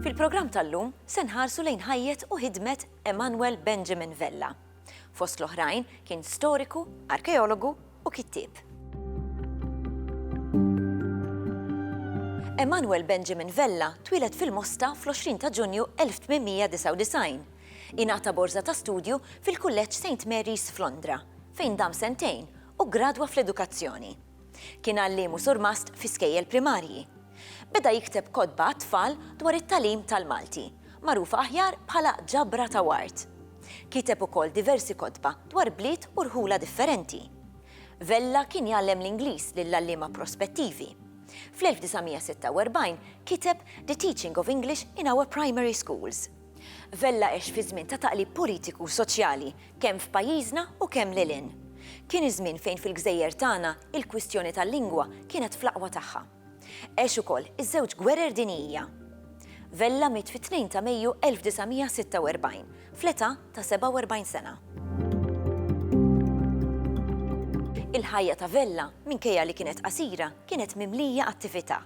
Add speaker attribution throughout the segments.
Speaker 1: Fil-programm tal-lum se nħarsu lejn ħajjet u ħidmet Emanuel Benjamin Vella. Fost l-oħrajn kien storiku, arkeologu u kittieb. Emanuel Benjamin Vella twilet fil-Mosta fl-20 ta' Ġunju 1899. Ingħata borża ta' studju fil-Kulleġġ Saint Mary's f'Londra, fejn dam sentejn u ggradwa fl-edukazzjoni. Kien għalliem u surmast fi skejjel primarji. Beda jikteb kotba għat-tfal dwar it-tagħlim tal-Malti, magħrufa aħjar bħala Ġabra ta' Ward. Kiteb ukoll diversi kotba dwar bliet u rħula differenti. Vella kien jgħallem l-Ingliż lill-għalliema prospettivi. Fl-1946 kiteb The Teaching of English in Our Primary Schools. Vella għex fi żmien ta' taqlib politiku u soċjali, kemm f'pajjiżna u kemm lil hinn. Kien iż-żmien fejn fil-gżejjer tagħna il-kwistjoni tal-lingwa kienet fl-aqwa tagħha. Għex ukoll iż-żewġ gwerer dinijija. Vella miet fit-2 ta' Mejju 1946, fl-età ta' 47 sena. Il-ħajja ta' Vella, minkejja li kienet qasira, kienet mimlija attività.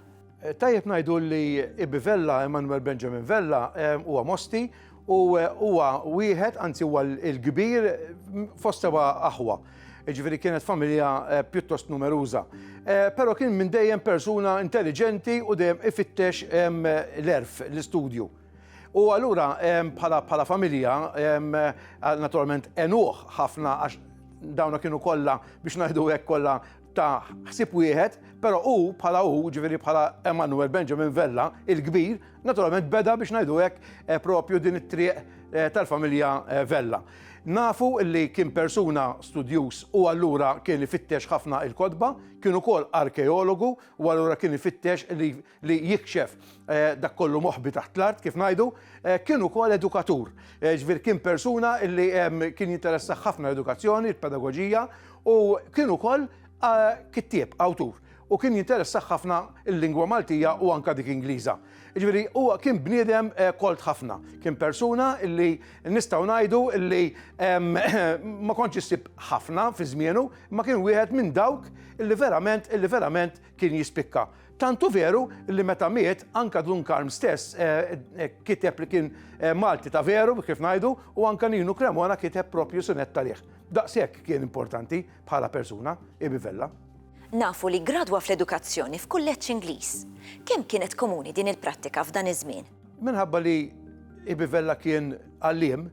Speaker 1: Tajjeb ngħidu
Speaker 2: li Ibi Vella, Emanuel Benjamin Vella, huwa Mosti u huwa wieħed, anzi huwa l-kbir fost seba' aħwa. Ġifieri kienet familja pjuttost numeruża. Però kien minn dejjem persuna intelliġenti u dejjem ifittex l-erf, l-istudju. U allura bħala familja, naturalment enuh ħafna għax dawna kienu kollha biex ngħidu hekk kollha ta' ħsieb wieħed, però hu bħala hu, ġifieri bħala Emanuel Benjamin Vella, il-kbir, naturalment beda biex ngħidu hekk eh, propju din it-triq eh, tal-familja eh, Vella. Nafu li kien persuna studjus u allura kien ifittex ħafna il-kodba, kien ukoll arkeologu u allura kien ifittex li li jikxef dak kollu moħbi taħt l-art kif ngħidu, kien ukoll edukatur. Ġifieri kien persuna li kien jinteressaħ ħafna l-edukazzjoni, il-pedagogija u kien ukoll kittieb, awtur u kien jinteressaħ ħafna l-lingwa Maltija u anka dik Ingliża. Ġifieri huwa kien bniedem kolt ħafna, kien persuna li nistgħu ngħidu li ma kontx issib ħafna fi żmienu, ma kien wieħed minn dawk li verament li verament kien jispikka. Tantu veru li meta miet anka Dun Karm stess eh, eh, kiteb li kien eh, Malti ta' veru kif ngħidu u anka Ninu Cremona kiteb propju sunet talih. Daqshekk kien importanti bħala persuna Ibi Vella. Nafu li
Speaker 1: gradwa fl-edukazzjoni f'kulleġġ Ingliż. Kemm kienet komuni din il-prattika f'dan iż-żmien? Minħabba li
Speaker 2: Ibi Vella kien għallim,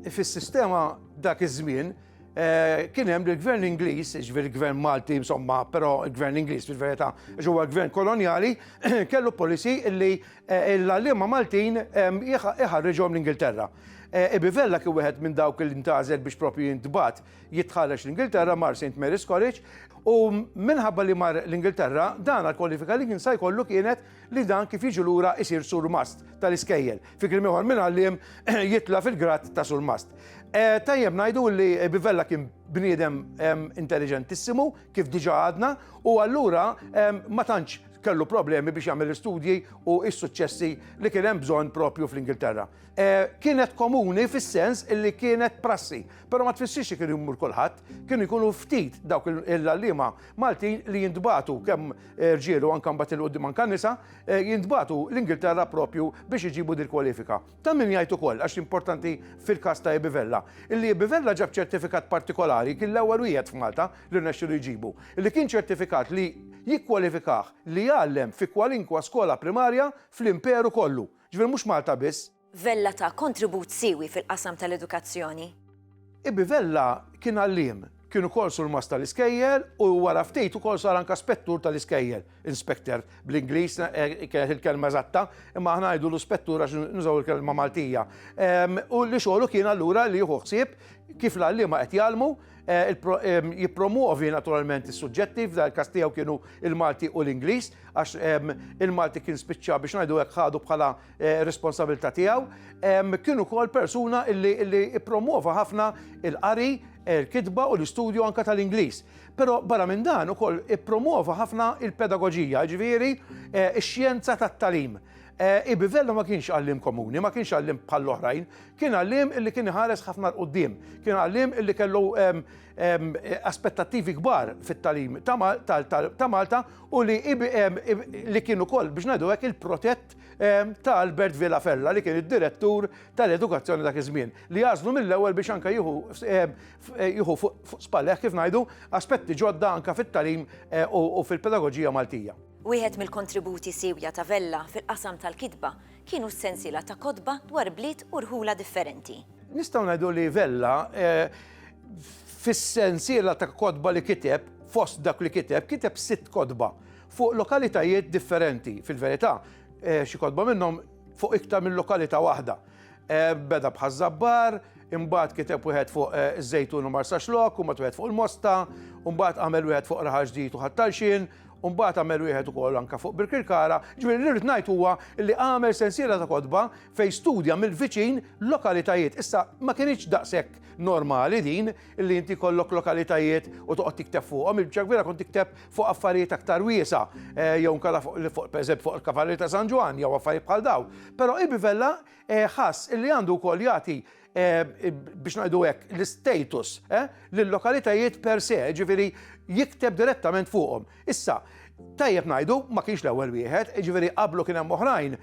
Speaker 2: Fis-sistema dak iż-żmien eh, kien hemm il-gvern Ingliż, ġifieri il-gvern Malti, insomma, però il-gvern Ingliż fil-verità ġewwa gvern kolonjali, kellu policy li eh, l-għalliema Maltin ehm, iħarriġhom l-Ingilterra. Eh, Ibivella kien wieħed minn dawk li ntażel biex propju jintbat jitħarreġ l-Ingilterra mar St. Mary's College u minħabba li mar l-Ingilterra dan għal kwalifika li jinsa jkollu kienet li dan kif jiġi lura jsir surmast tal-iskejjel. Fi kliem ieħor minn għalliem jitla' fil-grad ta' surmast. Eh, tajjeb ngħidu li Bivella kien bniedem intelligentissimu, kif diġa għadna, u allura ma tantx kellu problemi biex jagħmel l-istudji u s-suċċessi li kien hemm bżonn propju fl-Ingilterra. E, kienet komuni fis-sens li kienet prassi, però ma tfissirx li kien jmur kulħadd, kien ikunu ftit dawk il-għalliema Maltin li jintbatu kemm rġiel u anke mbagħad il-qudiem anke nisa, eh, jintbagħtu l-Ingilterra propju biex iġibu dil kwalifika. Ta' min jgħid ukoll għax importanti fil-każ ta' Ibivella, illi Ibivella ġab ċertifikat partikolari kien l-ewwel wieħed f'Malta li rnexxilu jġibu, li kien ċertifikat li jikkwalifikah li jgħallem fi kwalinkwa skola primarja fl-Imperu kollu. Ġifieri mhux Malta biss. Vella ta
Speaker 1: kontribut siewi fil-qasam tal-edukazzjoni. Ibbi
Speaker 2: Vella kien għalliem, kien ukoll surmast tal-iskejjel u wara ftit ukoll sar anka spettur tal-iskejjel, inspector bl-Ingliż kienet il-kelma eżatta, imma aħna ngħidulu spettur għax nużaw il-kelma Maltija. U li xogħlu kien allura li jieħu ħsieb kif l-għalliema qed jgħallmu, jippromwovi naturalment is-suġġetti, f'dan il-każ tiegħu kienu l-Malti u l-Ingliż, għax il-Malti kien spiċċa biex ngħidu hekk ħadu bħala Eh, responsabilità tiegħu, kien ukoll persuna illi ippromwova ħafna il-qari, eh, il-kitba u l-istudju anka tal-Ingliż. Però barra minn dan ukoll ippromwova ħafna il-pedagoġija, ġifieri eh, ix-xjenza tat-talim. Ibivello ma kienx għallim komuni, ma kienx għallim bħall-oħrajn, kien għallim illi kien ħares ħafna l-qoddim, kien għallim illi kellu aspettattivi kbar fit-talim ta' Malta u li kien ukoll biex ngħidu hekk il-protett ta' Albert Villa Fella li kien id-direttur tal-edukazzjoni dak iż-żmien li għażlu mill-ewwel biex anke jieħu jieħu fuq spalleh kif ngħidu aspetti ġodda anke fit-tagħlim u fil-pedagoġija Maltija. Wieħed mill-kontributi
Speaker 1: siewja ta' Vella fil-qasam tal-kitba kienu s-sensiela ta' kotba dwar bliet u rħula differenti. Nistgħu ngħidu li
Speaker 2: Vella fis-sensiela ta' kotba li kiteb fost dak li kiteb kiteb sitt kotba Fuq lokalitajiet differenti, fil-verità, xi kotba minnhom fuq iktar minn lokalità waħda. Beda bħaż-Żabbar, imbagħad kiteb wieħed fuq iż-Żejtun u Marsaxlokk, imbagħad wieħed fuq il-Mosta, imbagħad għamel wieħed fuq Raħal Ġdid u Ħal Talxien, u mbagħad għamel wieħed ukoll anke fuq Birkirkara, jiġifieri li rrid ngħid huwa li għamel sensiela ta' kotba fejn studja mill-viċin lokalitajiet. Issa ma kinitx daqshekk normali din li inti jkollok lokalitajiet u toqgħod tikteb fuqhom, il-biċċa l-kbira kont tikteb fuq affarijiet aktar wiesa', jew inkella fuq pereżempju fuq il-Kavallieri ta' San Ġwann jew affarijiet bħal dawn. Però Ibi Vella ħass li għandu wkoll jagħti biex ngħidu hekk l-istatus lil-lokalitajiet per se, ġifieri jikteb direttament fuqhom. Issa, tajjeb ngħidu ma kienx l-ewwel wieħed, ġifieri qablu kien hemm oħrajn,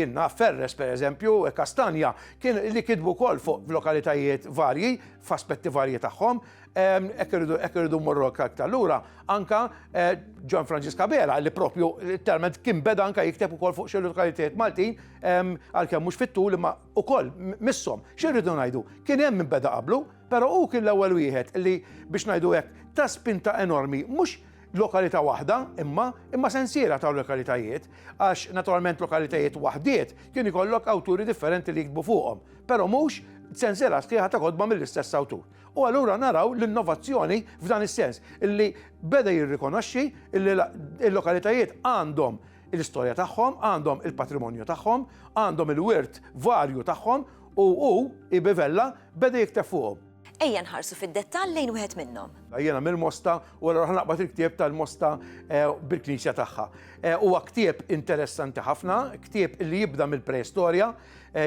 Speaker 2: jien naf Ferres pereżempju, Kastanja, kien li kitbu wkoll fuq lokalitajiet varji, f'aspetti varji tagħhom, Ekk irridu ekk irridu morru aktar allura anka eh, John Francis Cabela li propju talment kien beda anka jikteb ukoll fuq xi lokalitajiet Maltin għalkemm mhux fit-tul imma ukoll misshom. X'irridu ngħidu? Kien hemm min beda qablu, però hu kien l-ewwel wieħed li biex ngħidu hekk ta' spinta enormi mhux lokalità waħda, imma imma sensiera ta' lokalitajiet, għax naturalment lokalitajiet waħdiet kien ikollok awturi differenti li jiktbu fuqhom, però mhux sensiera sħiħa ta' kodba mill-istess awtur. U allura naraw l-innovazzjoni f'dan is-sens, illi beda jirrikonoxxi illi l-lokalitajiet għandhom l-istorja tagħhom, għandhom il-patrimonju tagħhom, għandhom il-wirt varju tagħhom u hu, IB. Vella, beda jikteb fuqhom. Ejja nħarsu
Speaker 1: fid-dettall lejn wieħed minnhom. Jiena mill-Mosta
Speaker 2: u allura ħa naqbad il-ktieb tal-Mosta bil-knisja tagħha. Huwa ktieb interessanti ħafna, ktieb li jibda mill-preistorja,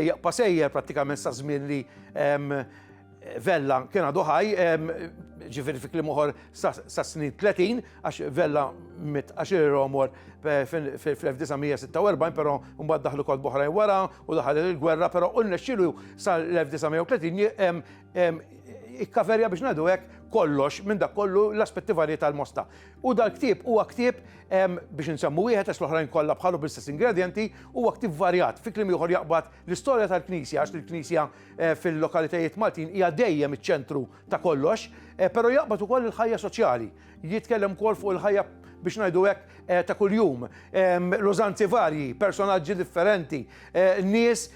Speaker 2: jaqpa' sejjer prattikament sa żmien li Vella kien għadu ħaj, ġifiri fi klim uħor sa snin 30, għax Vella mit għaxir romor fil-1946, pero mbagħad daħlu kod boħrajn wara u daħal il-gwerra, pero unna xilu sal-1930 ikkaverja biex nadu hekk kollox minn dak kollu l-aspetti varji tal-mosta. U dal-ktib huwa ktib biex nsemmu wieħed għax l-oħrajn kollha bħalu bl-istess ingredienti huwa ktib varjat fi kliem ieħor jaqbad l-istorja tal-Knisja għax il-Knisja eh, fil-lokalitajiet Maltin hija dejjem iċ-ċentru ta' kollox, eh, però jaqbad ukoll il-ħajja soċjali. Jitkellem ukoll fuq il-ħajja biex ngħidu hekk eh, ta' kuljum, ehm, l-użanzi varji, personaġġi differenti, nies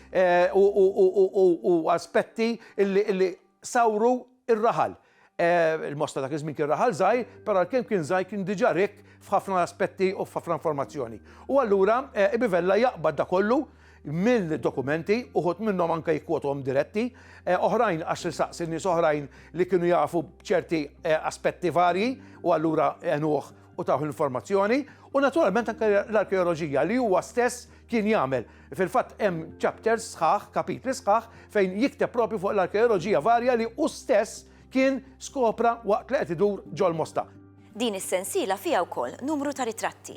Speaker 2: u aspetti li sawru ir-raħal. Il-Mosta dak iż-żmien kien raħal żgħir, però għalkemm kien żgħir kien diġà rikk f'ħafna aspetti u f'ħafna informazzjoni. U allura Ibn Vella jaqbad dak kollu mill-dokumenti, uħud minnhom anke jikkwotuhom diretti, oħrajn għax isaqsi nies oħrajn li kienu jafu b'ċerti aspetti varji u allura għenuh u tawh l-informazzjoni, u naturalment anke l-arkeoloġija li huwa stess kien jagħmel. Fil-fatt hemm chapters sħaħ, kapitli sħaħ, fejn jikteb proprju fuq l-arkeoloġija varja li hu stess kien skopra waqt li qed idur ġol Mosta. Din is-sensiela
Speaker 1: fiha wkoll numru ta' ritratti.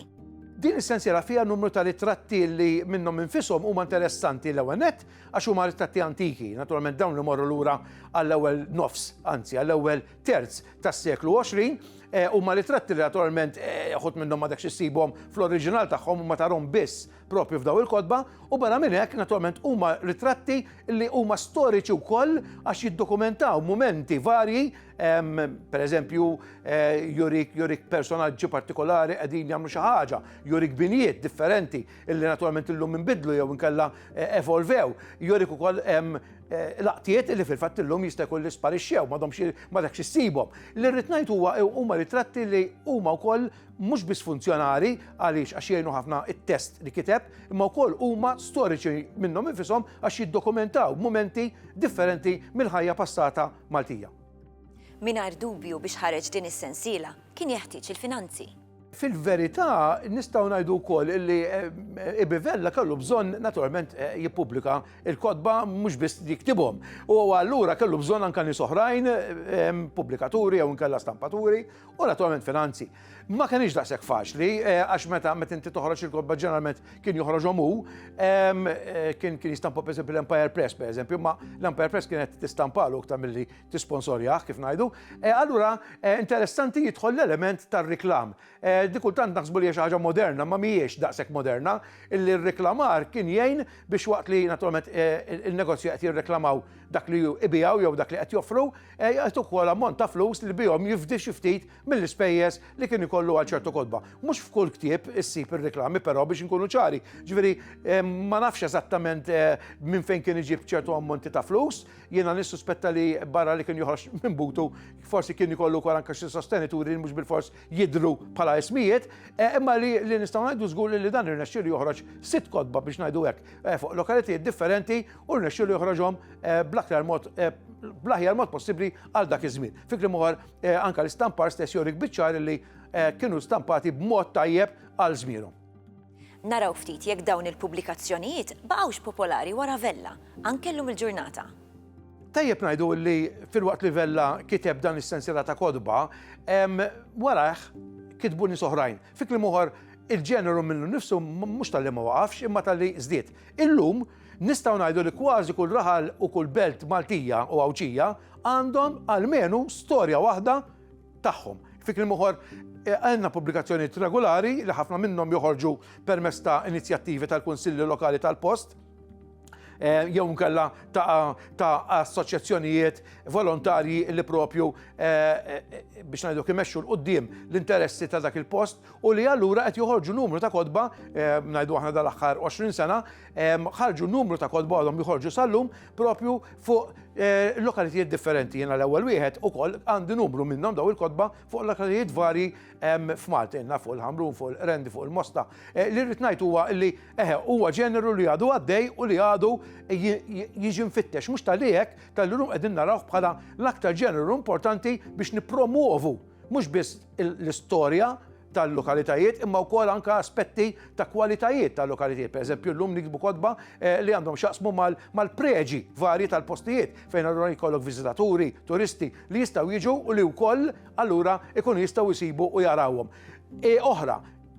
Speaker 1: Din is-sensiela
Speaker 2: fiha numru ta' ritratti li minnhom infishom huma interessanti l-ewwel nett għax huma ritratti antiki, naturalment dawn li morru lura għall-ewwel nofs, anzi għall-ewwel terz tas-seklu 20, eh, huma ritratti li naturalment eh, ħut minnhom ma dakx issibhom fl-oriġinal tagħhom ma tarhom biss proprju f'dawn il-kotba, u barra minn hekk naturalment huma ritratti li huma storiċi wkoll għax jiddokumentaw mumenti varji, pereżempju eh, jurik jurik personaġġi partikolari qegħdin jagħmlu xi ħaġa, jurik binjiet differenti illi naturalment illum inbidlu jew inkella eh, evolvew, jurik ukoll eh, laqtiet li fil-fatt illum jista' jkun li sparixxew ma domx ma dak xissibhom. Li rrid ngħid huwa huma ritratti li huma wkoll mhux biss funzjonali għaliex għax jgħinu ħafna it-test li kiteb, imma wkoll huma storiċi minnhom infisom għax jiddokumentaw mumenti differenti mill-ħajja passata Maltija.
Speaker 1: Mingħajr dubju biex ħareġ din
Speaker 2: is-sensiela
Speaker 1: kien jeħtieġ il-finanzi. Fil-verità
Speaker 2: nistgħu ngħidu wkoll li eh, Ibivella kellu bżonn naturalment eh, jippubblika il-kotba mhux biss jiktibhom. U allura kellu bżonn anke nies oħrajn, eh, pubblikaturi jew inkella stampaturi, u naturalment finanzi. Ma kenix daqshekk faċli, eh, għax meta meta inti toħroġ il-kotba ġeneralment kien joħroġhom hu, ehm, eh, kien kien jistampa pereżempju l-Empire Press pereżempju, ma l-Empire Press kienet tistampalu aktar milli tisponsorjah kif ngħidu. Eh, allura interessanti jidħol l-element tar-reklam. Dikultant naħsbu li xi ħaġa moderna, ma mhijiex daqshekk moderna, illi r-reklamar kien jgħin biex waqt li naturalment il-negozju qed jirreklamaw dak li ibijaw jew dak li qed joffru, Jgħid ukoll ammont ta' flus li bihom jifdi xi ftit mill-ispejjeż li kien ikollu għal ċertu kotba. Mhux f'kull ktieb issib ir-riklami però biex inkunu ċari. Ġifieri ma nafx eżattament minn fejn kien iġib ċertu ammonti ta' flus. Jiena nissuspetta li barra li kien joħroġ minn butu forsi kien ikollu wkoll anke xi sostenituri li mhux bilfors jidhru bħala ismijiet, imma li nistgħu ngħidu żgur li dan irnexxielu joħroġ sitt kotba biex ngħidu hekk fuq lokalitajiet differenti u rnexxielu joħroġhom eh, bl-aktar mod eh, bl-aħjar mod possibbli għal dak iż-żmien. Fikri moħar eh, anka l-istampar stess jorik biċċar li kienu stampati b'mod tajjeb għal żmienhom. Naraw
Speaker 1: ftit jekk dawn il-pubblikazzjonijiet baqgħux popolari wara Vella, anke llum il-ġurnata. Tajjeb
Speaker 2: ngħidu li fil-waqt li Vella kiteb dan is-sensiela ta' kodba, warah kitbu nies oħrajn. Fi kliem uħor, il-ġeneru minnu nnifsu mhux talli ma waqafx imma talli żdied. Illum nistgħu ngħidu li kważi kull raħal u kull belt Maltija u Għawdxija għandhom almenu storja waħda tagħhom. Fi kliem uħor, eh, għandna pubblikazzjonijiet regolari li ħafna minnhom joħorġu permezz ta' inizjattivi tal-Kunsilli Lokali tal-post, Eh, jew nkella ta' assoċjazzjonijiet volontarji li propju eh, eh, biex ngħidu imexxu l-qudiem l-interessi ta' dak il-post u li allura qed joħorġu numru ta' kodba ngħidu aħna dal-aħħar 20 sena ħarġu numru ta' kodba għadhom joħorġu sal-lum propju fuq lokalitijiet differenti jiena l-ewwel wieħed ukoll għandi numru minnhom daw il-kodba fuq lokalitijiet varji f'Malta fuq il-Ħamrun, fuq il-Rendi, fuq il-Mosta. Li rrid ngħid huwa li Eħe, huwa ġeneru li għadu għaddej u li għadu jiġi mfittex. Mhux talli hekk, talli llum qegħdin narawh bħala l-aktar ġeneru importanti biex nippromwovu mhux biss l-istorja tal-lokalitajiet imma wkoll anke aspetti ta' kwalitajiet tal-lokalitajiet. Pereżempju llum nikbu kotba eh, li għandhom xaqsmu mal-preġi varji tal-postijiet fejn allura jkollok viżitaturi, turisti li jistgħu jiġu u li wkoll allura ikunu jistgħu jsibu u jarawhom. E oħra,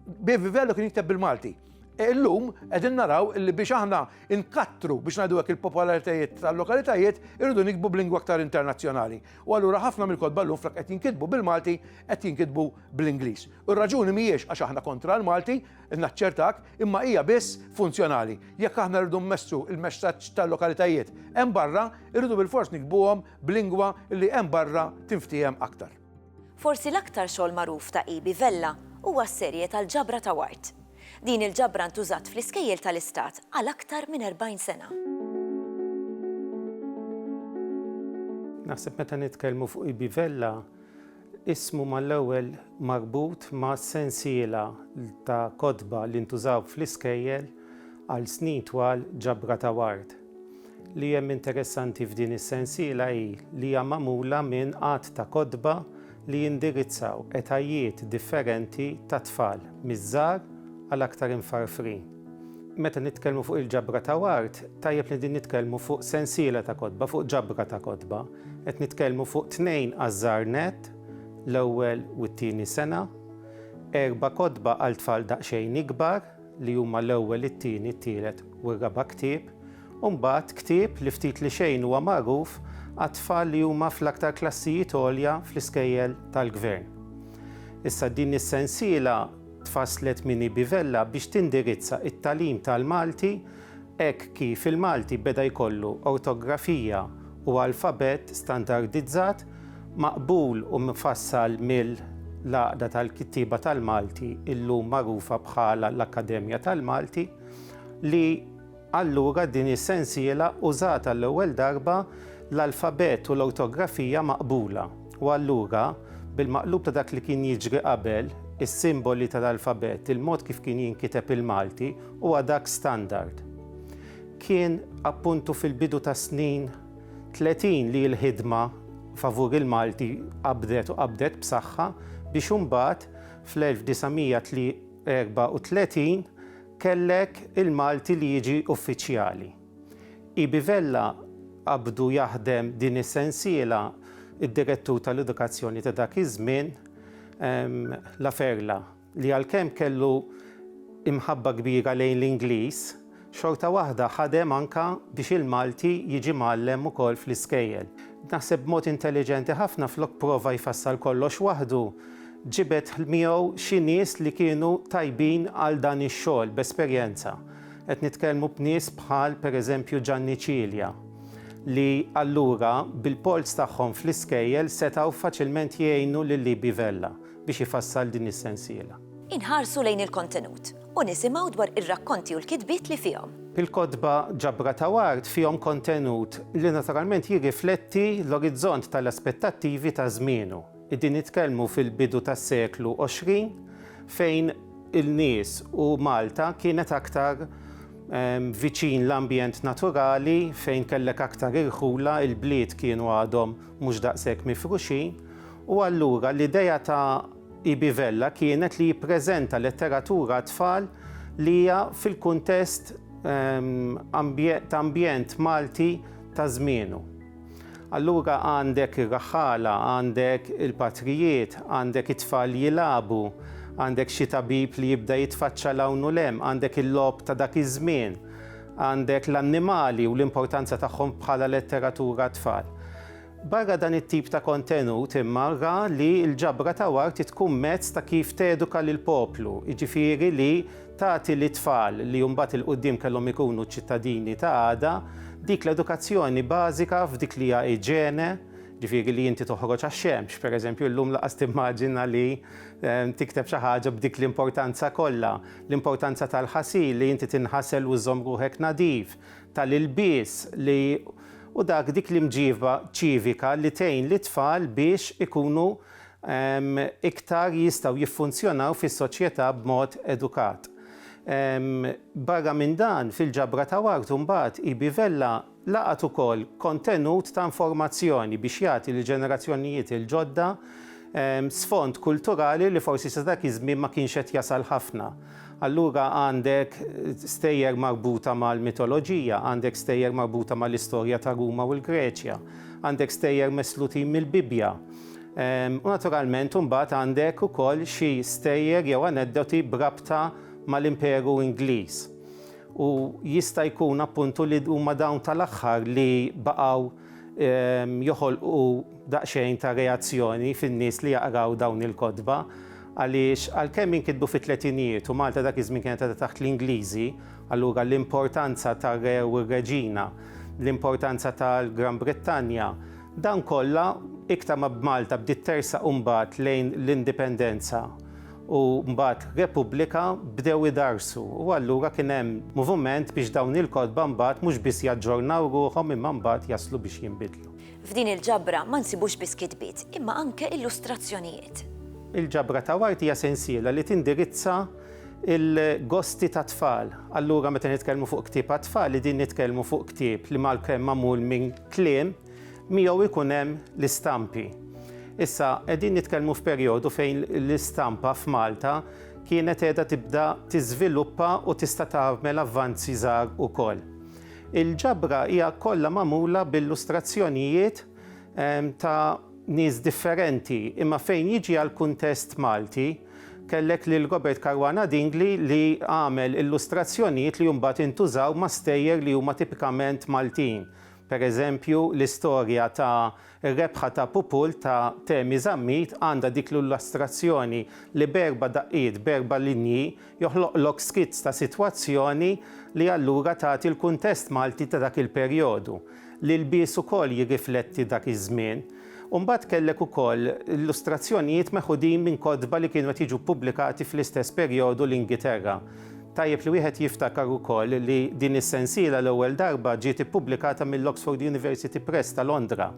Speaker 2: Bevi Vella kien jikteb bil-Malti. E illum qegħdin naraw li biex aħna inkattru biex ngħidu hekk il-popolaritajiet tal-lokalitajiet irridu nikbu b'lingwa aktar internazzjonali. U allura ħafna mill-kotba llum flok qed jinkitbu bil-Malti qed jinkitbu bl-Ingliż. U r-raġuni mhijiex għax aħna kontra l-Malti, naċċertak, imma hija biss funzjonali. Jekk aħna rridu mmessu il-messaġġ tal-lokalitajiet hemm barra, irridu bil-fors nikbuhom b'lingwa li hemm barra tinftiehem aktar. Forsi l-aktar
Speaker 1: xogħol magħruf ta' Ibi Vella huwa s-serje tal-ġabra ta' wart. Din il-ġabra ntużat fl-iskejjel tal-istat għal aktar minn 40 sena.
Speaker 3: Naħseb meta nitkellmu fuq Ibi Vella, ismu mal-ewwel marbut ma' sensiela ta' kotba li ntużaw fl-iskejjel għal snin twal ġabra ta' wart. li hemm interessanti f'din is-sensiela hi li hija magħmula minn għadd ta' kotba li jindirizzaw etajiet differenti ta' tfal, miż-żgħar għal aktar imfarfrin. Meta nitkellmu fuq il-ġabra ta' Ward, tajjeb li din nitkellmu fuq sensiela ta' kotba, fuq ġabra ta' kotba. Qed nitkellmu fuq tnejn għaż-żgħar nett, l-ewwel u t-tieni sena, erba' kotba għal tfal daqsxejn ikbar, li huma l-ewwel, it-tieni, it-tielet u r-raba' ktieb, u mbagħad ktieb li ftit li xejn huwa magħruf għat-tfal li huma fl-aktar klassijiet għolja fl-iskejjel tal-Gvern. Issa din is-sensiela tfasslet minn EB. Vella biex tindirizza t-tagħlim tal-Malti Hekk kif il-Malti beda jkollu ortografija u alfabett standardizzat, maqbul u mfassal mill l-Għaqda tal-Kittieba tal-Malti, illum magħrufa bħala l-Akkademja tal-Malti, li allura din is-sensiela użat għall-ewwel darba l-alfabett u l-ortografija maqbula. U allura, bil-maqlub ta' dak li kien jiġri qabel, is-simboli tal-alfabett, il-mod kif kien jinkiteb il-Malti, huwa dak standard. Kien, appuntu, fil-bidu tas-snin tletin li l-ħidma favur il-Malti qabdet u qabdet b'saħħa biex imbagħad fl-1934 kellek il-Malti li jiġi uffiċjali. EB Vella qabdu jaħdem din is-sensiela d-Direttur tal-Edukazzjoni ta' dak iż-żmien, La Ferla, li għalkemm kellu imħabba kbira lejn l-Ingliż, xorta waħda ħadem anke biex il-Malti jiġi mgħallem ukoll fl-iskejjel. Naħseb b'mod intelliġenti ħafna flok prova jfassal kollox waħdu, ġibed miegħu xi nies li kienu tajbin għal dan ix-xogħol b'esperjenza. Qed nitkellmu b'nies bħal pereżempju Ġanni Cilia li allura bil-polz tagħhom fl-iskejjel setgħu faċilment jgħinu lil Libi Vella biex ifassal din is-sensiela. Inħarsu lejn
Speaker 1: il-kontenut u nisimgħu dwar ir-rakkonti u l-kitbiet li fihom. Il-kotba
Speaker 3: Ġabra ta' Ward fihom kontenut li naturalment jirrifletti l-orizzont tal-aspettattivi ta' żmienu. Qegħdin nitkellmu fil-bidu tas-seklu 20 fejn il-nies u Malta kienet aktar viċin l-ambjent naturali fejn kellek aktar irħula, il-bliet kienu għadhom mhux daqshekk mifruxin u allura l-idea ta' EB Vella kienet li jippreżenta letteratura għat-tfal li hija fil-kuntest ta' ambjent Malti ta' żmienu. Allura għandek ir-raħħala, għandek il-patrijiet, għandek it-tfal jilagħbu, għandek xi tabib li jibda jitfaċċa 'l hawn u 'l hemm, għandek il-logħob ta' dak iż-żmien, għandek l-annimali u l-importanza tagħhom bħala letteratura għat-tfal. Barra dan it-tip ta' kontenut imma ra li l-ġabra ta' Ward tkun mezz ta' kif teduka lill-poplu, jiġifieri li tagħti lit-tfal li mbagħad 'il quddiem kellhom ikunu ċ-ċittadini ta' għada, dik l-edukazzjoni bażika f'dik li hija iġene, ġifieri li inti toħroġ għax-xemx, pereżempju llum lanqas timmaġina li tikteb xi ħaġa b'dik l-importanza kollha, l-importanza tal-ħasil, li inti tinħasel u żżomm ruħek nadif, tal-ilbies li u dak dik l-imġiba ċivika li tgħin lit-tfal biex ikunu iktar jistgħu jiffunzjonaw fis-soċjetà b'mod edukat. Barra minn dan, fil-ġabra ta' Ward imbagħad, EB. Vella laqgħet ukoll kontenut ta' informazzjoni biex jagħti lill-ġenerazzjonijiet il-ġodda sfond kulturali li forsi sa dak iż-żmien ma kienx qed jasal ħafna. Allura għandek stejjer marbuta mal-mitoloġija, għandek stejjer marbuta mal-istorja ta' Ruma u l-Greċja, għandek stejjer meslutin mill-Bibbja, U naturalment imbagħad għandek ukoll xi stejjer jew aneddoti b'rabta mal-Imperu Ingliż. U jista' jkun appuntu li huma dawn tal-aħħar li baqgħu joħolqu daqsxejn ta' reazzjoni fin-nies li jaqraw dawn il-kotba għaliex għalkemm inkitbu fit-tletinijiet u Malta dak iż-żmien kienet għadha taħt l-Ingliżi, allura l-importanza tar-Re u r-Reġina, l-importanza tal-Gran Brittanja, Dan kollha, iktar ma b'Malta bdiet tersaq imbagħad lejn l-indipendenza u mbagħad repubblika, bdew idarsu u allura kien hemm muvument biex dawn il-kotba mbagħad mhux biss jaġġornaw ruħhom imma mbagħad jaslu biex jinbidlu. F'din il-ġabra
Speaker 1: ma nsibux biss kitbiet imma anke illustrazzjonijiet. Il-ġabra
Speaker 3: ta' Ward hija sensiela li tindirizza l-gosti tat-tfal. Allura meta nitkellmu fuq ktieb għat-tfal qegħdin nitkellmu fuq ktieb li malkemm magħmul minn kliem miegħu jkun hemm l-istampi. Issa qegħdin nitkellmu f'perjodu fejn l-istampa f'Malta kienet qiegħda tibda tiżviluppa u tista' tagħmel avvanzi żgħar ukoll. Il-ġabra hija kollha magħmula b'illustrazzjonijiet ehm, ta' nies differenti, imma fejn jiġi għall-kuntest Malti, Kellek lil Robert Caruana Dingli li għamel illustrazzjonijiet li mbagħad intużaw ma' stejjer li huma tipikament Maltin. Per eżempju, l-istorja ta' Ir-Rebħa ta' Pupul ta' Temi Zammit għandha dik l-illustrazzjoni li b'erba' daqqiet, b'erba' linji, joħloqlok skizz ta' sitwazzjoni li allura tagħti l-kuntest Malti ta' dak il-perjodu. L-ilbies ukoll jirrifletti dak iż-żmien. u mbagħad kellek ukoll illustrazzjonijiet meħudin minn kotba li kienu qed jiġu ppubblikati fl-istess perjodu l-Ingiterra. Tajjeb li wieħed jiftakar ukoll li din is-sensiela l-ewwel darba ġiet ippubblikata mill-Oxford University Press ta' Londra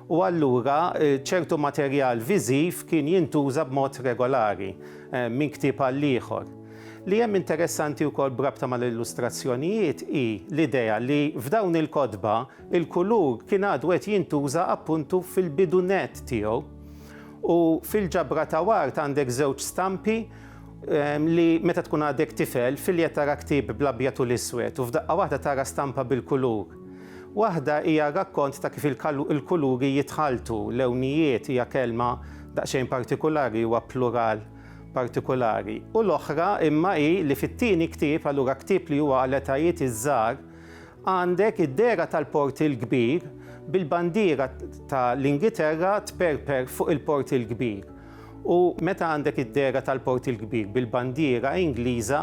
Speaker 3: u allura ċertu materjal viżiv kien jintuża b'mod regolari minn ktieb għal ieħor. Li hemm interessanti wkoll b'rabta mal-illustrazzjonijiet hi l-idea li f'dawn il-kotba Il-kulur kien għadu qed jintuża appuntu fil-bidu nett tiegħu. U fil-ġabra ta' Ward għandek żewġ stampi li meta tkun għadek tifel filjet tara ktieb bl-abjad u l-iswed u f'daqqa waħda tara stampa bil-kulur. Waħda hija rakkont ta' kif il-kuluri jitħalltu, lewnijiet hija kelma daqsxejn partikulari, huwa plural partikulari, u l-oħra imma hi li fit-tieni ktieb, allura ktieb li huwa għal etajiet iż-żgħar, Għandek id-dehra tal-Port il-Kbir bil-bandiera ta' l-Ingiterra tperper fuq il-Port il-Kbir u meta għandek id-dehra tal-Port il-Kbir bil-bandiera Ingliża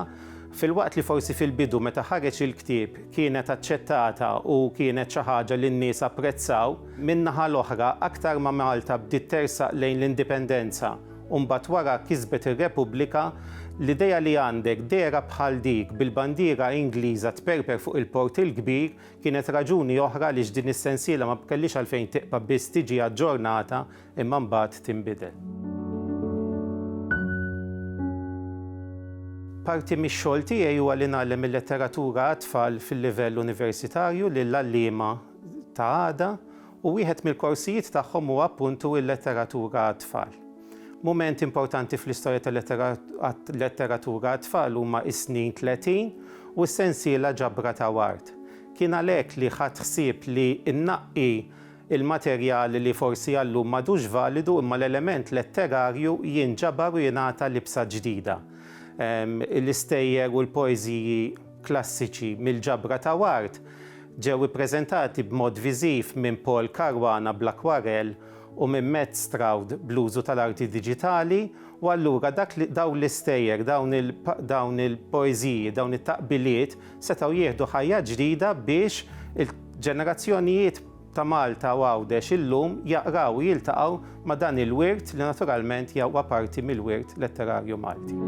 Speaker 3: filwaqt li forsi fil-bidu meta ħareġ il-ktieb kienet aċċettata u kienet xi ħaġa li n-nies apprezzaw, min-naħa l-oħra aktar ma Malta bdiet tersaq lejn l-Indipendenza, u mbagħad wara kisbet ir-Repubblika, l-idea li għandek dehra bħal dik bil-bandiera Ingliża tperper fuq il-Port il-Kbir kienet raġuni oħra għaliex din is-sensiela ma kellhiex għalfejn tibqa' biss tiġi aġġornata imma mbagħad tinbidel. Parti mix-xogħol tiegħi huwa li ngħallem il-letteratura għat-tfal fil-livell universitarju lill-għalliema ta' għada u wieħed mill-korsijiet tagħhom huwa appuntu il-Letteratura għat-Tfal. Mument importanti fl-istorja tal-letteratura għat-tfal huma is-snin tletin u s-sensiela Ġabra ta' Ward. Kien għalhekk li ħadt ħsieb li nnaqqi l-materjal li forsi għal-lum m'għadux validu imma l-element letterarju jinġabar u jingħata libsa ġdida. L-istejjer u l-poeżiji klassiċi mill-Ġabra ta' Ward Ġew ippreżentati b'mod viżiv minn Paul Caruana bl-akkwarell u minn Matt Stroud bl-użu tal-arti diġitali u allura dak li, dawn l-istejjer, dawn il, dawn il-poeżiji, dawn it-taqbiliet setgħu jieħdu ħajja ġdida biex il-ġenerazzjonijiet ta' Malta u Għawdex illum jaqraw u jiltaqgħu ma' dan il-wirt li naturalment hija huwa parti mill-wirt letterarju Malti.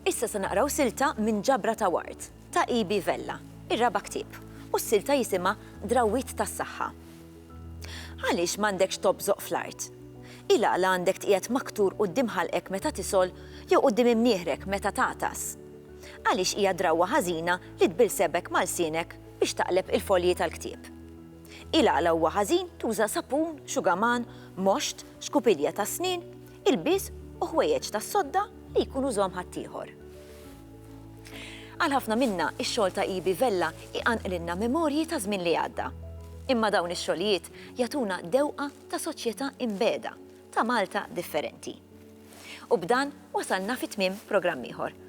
Speaker 1: Issa se naqraw silta minn Ġabra ta' Ward, ta' E. B. Vella, ir-raba' ktieb, u s-silta jisimha Drawwiet tas-Saħħa. Għaliex m'għandekx tobżoq fl-art? Ilgħala għandek tqiegħed maktur quddiem ħalqek meta tisgħol jew quddiem imnieħrek meta tagħtas? Għaliex hija drawwa ħażina li tbill sebgħek ma' lsienek biex taqleb il-folji tal-ktieb? Ilgħala huwa ħażin tuża sapun, xugaman, moxt, xkupilja tas-snien, ilbies u ħwejjeġ tas-sodda li jkun użahom ħaddieħor. Għal ħafna minna, ix-xogħol ta' EB Vella iqanqlilna memorji ta' żmien li għadda. Imma dawn ix-xogħlijiet jagħtuna dewqa ta' soċjetà imbegħda, ta' Malta differenti. U b'dan wasalna fi tmiem programm ieħor.